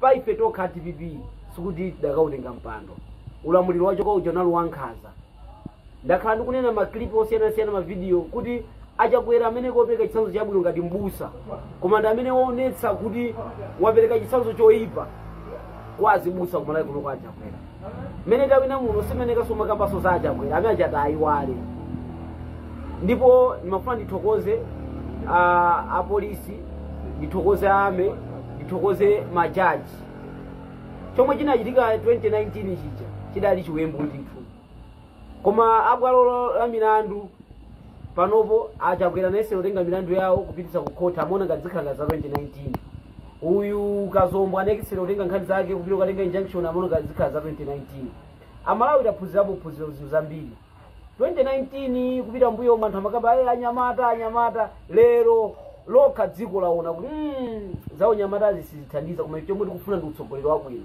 pa ife tokha dpp sikuti tidakautenga mpando ulamuliro wachoka uja unali wankhanza ndakhala ndikunena maklipi osiyanasiyana mavidiyo kuti achakwera amene kopereka chitsanzo chabwino ngati mbusa koma ndi amene waonetsa kuti wapereka chitsanzo choyipa kwa azibusa kumalawi kuno kwa achakwera mmene tawina muno simene kasoma kambaso za achakwera amene achati ayiwale ndipo ndimafuna ndithokoze ah, apolisi ndithokoze a mec ndithokoze majaji chomwe chinachitika 2019 chija chidali chiwembu ndithu koma abwalo lo- la milandu panopo achakwera anayesa kutenga milandu yawo kupititsa ku khoti amaona ngati zikhala za 2019 uyu kazombo anayesera kutenga nkhani zake kupita kukatenga injunction amaona ngati zikhala za 2019 amalawi taphunzirapo phunziro zinthu zambiri 2019 kupita mbuyomu anthu amakamba ayi anyamata anyamata lero lokha dziko laona kuti mm, za unyamatazi sizithandiza koma chomwe tikufuna ndi utsogoleri wabwino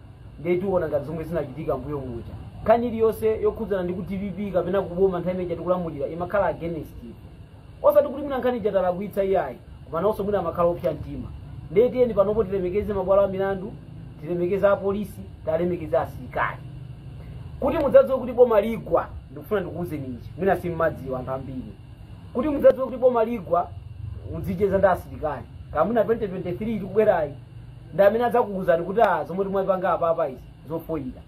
ndiye tiona ngati zomwe zinachitika mbuyo muja nkhani iliyonse yokhudzana ndi ku dpp kapena kuboma nthawi imene tikulamulira imakhala against osati kuti mwina nkhani ija talakwitsa iyayi koma nawonso mwina amakhala opsa mtima ndiye tiyeni panopo tilemekeze mabwalo a milandu tilemekeze apolisi tilemekeze asilikali kuti mudzadziwe kuti boma ligwa ndikufuna ndikuwuzeni ichi mwina simmadziwa anthu ambiri kuti mudzadziwe kuti boma ligwa mudzicheza ndi asilikali kamuna 2030 ikubwerayi ndi amene adzakuwuzani kuti a zomwe timapanga apapa izi zofoyira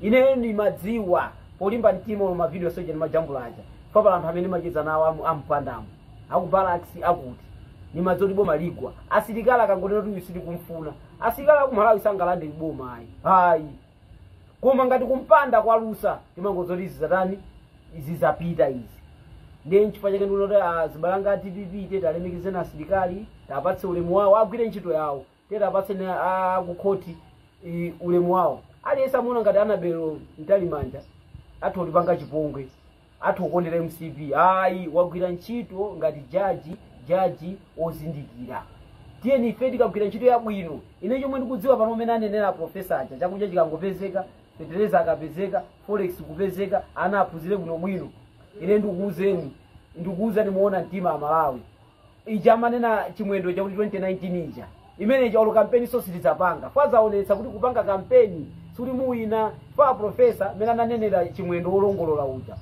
ine ndimadziwa polimba mtima mu mavidiyo onse aja ndimajambula aja papala anthu amene ndimacheza nawo amu- ampandamu aku barracks akuti ndimadziwa kuti boma ligwa asilikali akangotero kuti uyu sitikumfuna asilikali akumalawi sangalande boma ayi ayi koma ngati kumpanda kwalusa timangodziwa kuti zizatani zizapita izi ndiye nchifukwa chake ndikuona kuti ah, azibale anga a dpp tiye tialemekezeni asilikali tiapatse ulemu wawo agwire ntchito yawo tiye tiapatseni a- akukhoti eh, ulemu wawo aliyense amaona ngati anabel mtalimanja atha kutipanga chipongwe atha kukondera mcp ayi wagwira ntchito ngati jaji jaji ozindikira tiyeni ife tikagwire ntchito yabwino ine chomwe ndikudziwa pano mmene anenera aprofesa aja chakudya chikangopezeka fetereza akapezeka forex kupezeka ana aphunzire bwinobwino ine ndikuuzeni ndikuuzani moona mtima amalawi ija amanena chimwendo chakuti 2019 ija imene ija olo kampeniso sitidzapanga tadzaonetsa kuti kupanga kampeni sikuti muwina pa profesa mmene ananenera chimwendo wolongolola uja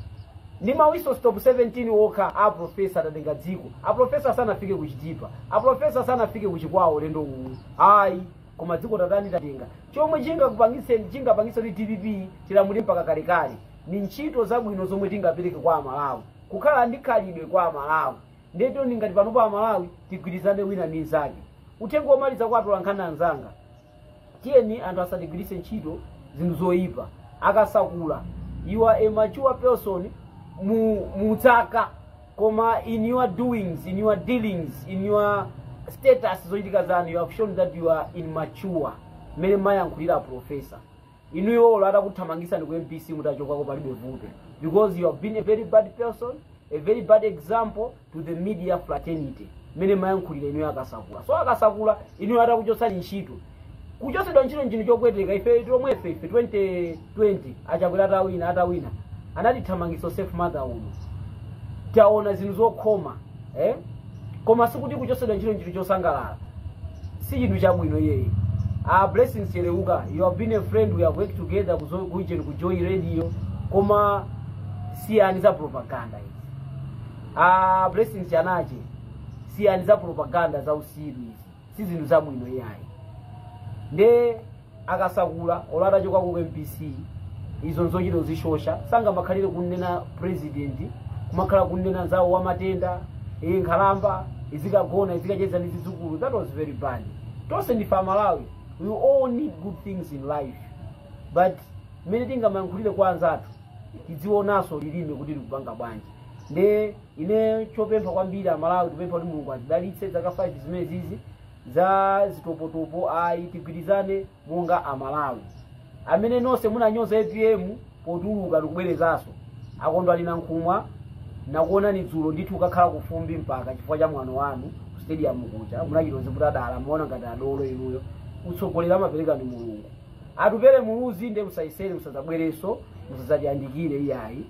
ndi ma whistle stop 17 okha a profesa tatenga dziko a profesa sanafike kuchitipa a profesa sanafike kuchikwawa ulendo uwu ayi koma dziko tatani tatenga chomwe chingakupangitseni chingapangitse kuti dpp tilamule mpaka kalekale ni ntchito zabwino zomwe tingapereke kwa amalawi kukhala ndi khalidwe kwa amalawi ndiye tione ngati panopa amalawi tigwirizane wina ndi nzake uthenga womaliza kwa atolankhani anzanga tiyeni anthu asatigwiritse ntchito zinthu zoyipa akasakula you are a mature person mu zaka koma in your doings in your dealings in your status zochitika zanu you have shown that you are immature mmene mayankhulira aprofesa inuyo olo atakuthamangisani ku mbc mutachokako palibe vuto because you have been a very bad person a very bad example to the media fraternity mmene mayankhulira inuyo akasakula so akasakula inuyo atakuchotsani ntchito kuchotsedwa ntchito nchinthu chopweteka ife tomwefe ife 2020 achakwera atawina atawina anatithamangitsa safe motherhood taona zinthu zokhoma eh? koma sikuti kuchotsedwa ntchito nchinthu chosangalala si chinthu chabwino iyayi a blessings cheleuka you have been a friend we have worked together ku Zo- ku Ujeni, ku joy radio koma siyani za propaganda izi a blessings kanache siyani za propaganda za usiru izi si zinthu zabwino iyayi nde akasakula olo atachokako ku mbc izo nzochita kuzishosha sangamakhalire kunena president kumakhala kunena nzawo wamatenda iyi nkhalamba izikagona izikacheza ndi zidzukulu that was very bad tonse ndife amalawi we all need good things in life but mmene tingamayankhulire kwa anzathu tidziwonanso lilime kuti likupanga bwanji nde ine chopempha kwambiri amalawi tipempha kuti mulungu atidalitse zaka 5 zimenezizi za zitopotopo ayi tigwirizane monga amalawi amene nonse munanyoza apm potuluka ndikubwerezanso akondwani nankhumwa nakuonani dzulo ndithu ukakhala kufumbi mpaka chifukwa cha mwano wanu ku stadium kuja munachita zinthu zadala muona ngati adolo inuyo utsogoleri amapereka ndi mulungu atupele muluzi nde musayesere musadzabwerenso musadzatiyandikire iyayi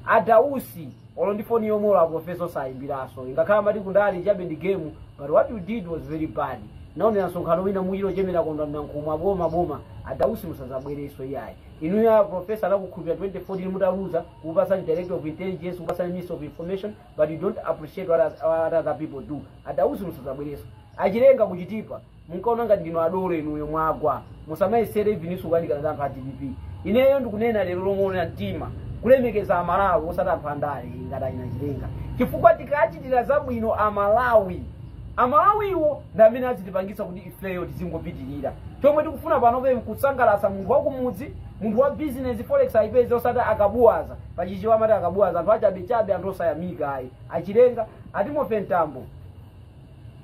adausi olo ndi foni yomwe olo aprofesa osayimbiranso ngakhale amati kundale chabe ndi game but what you did was very bad naonera msonkhano wina muchiro chemera kondwani nankhumwa aboma boma adausi musazabwereso iyayi inuyo a profesa anakukhulupira 2014 mutaluza kupasani director of intelligence kupasani minister of information but you don't appreciate what, others- what other people do adausi musazabwereso achilenga ku chitipa munkaona ngati ndinu adolo inuyo mwagwa musamayesere evennso kuyandikana ndi anthu a dpp ineyo ndikunena lero lomwe una mtima kulemekeza amalawi osati anthu andale ngati achina chilenga chifukwa tikachitira zabwino amalawi amalawiwo ndi amene azitipangitsa kuti ifeyo tizingopitirira chomwe tikufuna panopa nkusangalatsa munthu wakumudzi munthu wa bizinesi forex ayipeze osati akabuwaza pachichewa amati akabuwaza anthu achabechabe anthu osayamika ayi achilenga atimothy mtambo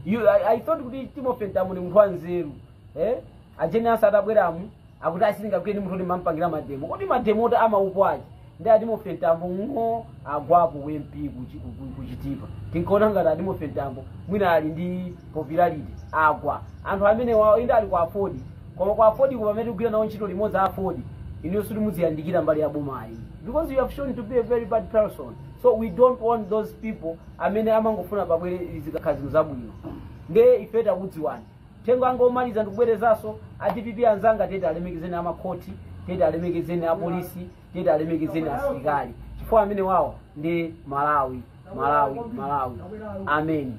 You, I, I thought kuti Timothy Mtambo ndi munthu wanzeru. Eh? Ajeni asa- atabweramu akuti asilinga kuyeni munthu ndimampangira mademo. Kodi mademo oti amayipa aje? Ndi a Timothy Mtambo ng'o agwapo u MP ku Chi- ku- ku- ku Chitipa. Tinkaona ngati a Timothy Mtambo mwina ali ndi popularity agwa. Anthu amenewawo inde ali ku AFORD. Koma ku AFORD komwe amene tikugwira nawo ntchito limodzi a AFORD. Inu sikuti muziyandikira mbali ya boma ayi. Because you have shown to be a very bad person. So we don't want those people amene amangofuna pabwere zikakhala kuti zinthu zabwino nde ife takudziwani uthenga wanga omaliza ndikubwerezanso a dpp anzanga titi tiwalemekezeni amakhoti titi tiwalemekezeni apolisi titi tiwalemekezeni asilikali chifukwa amenewawo ndi amalawi malawi malawi ameni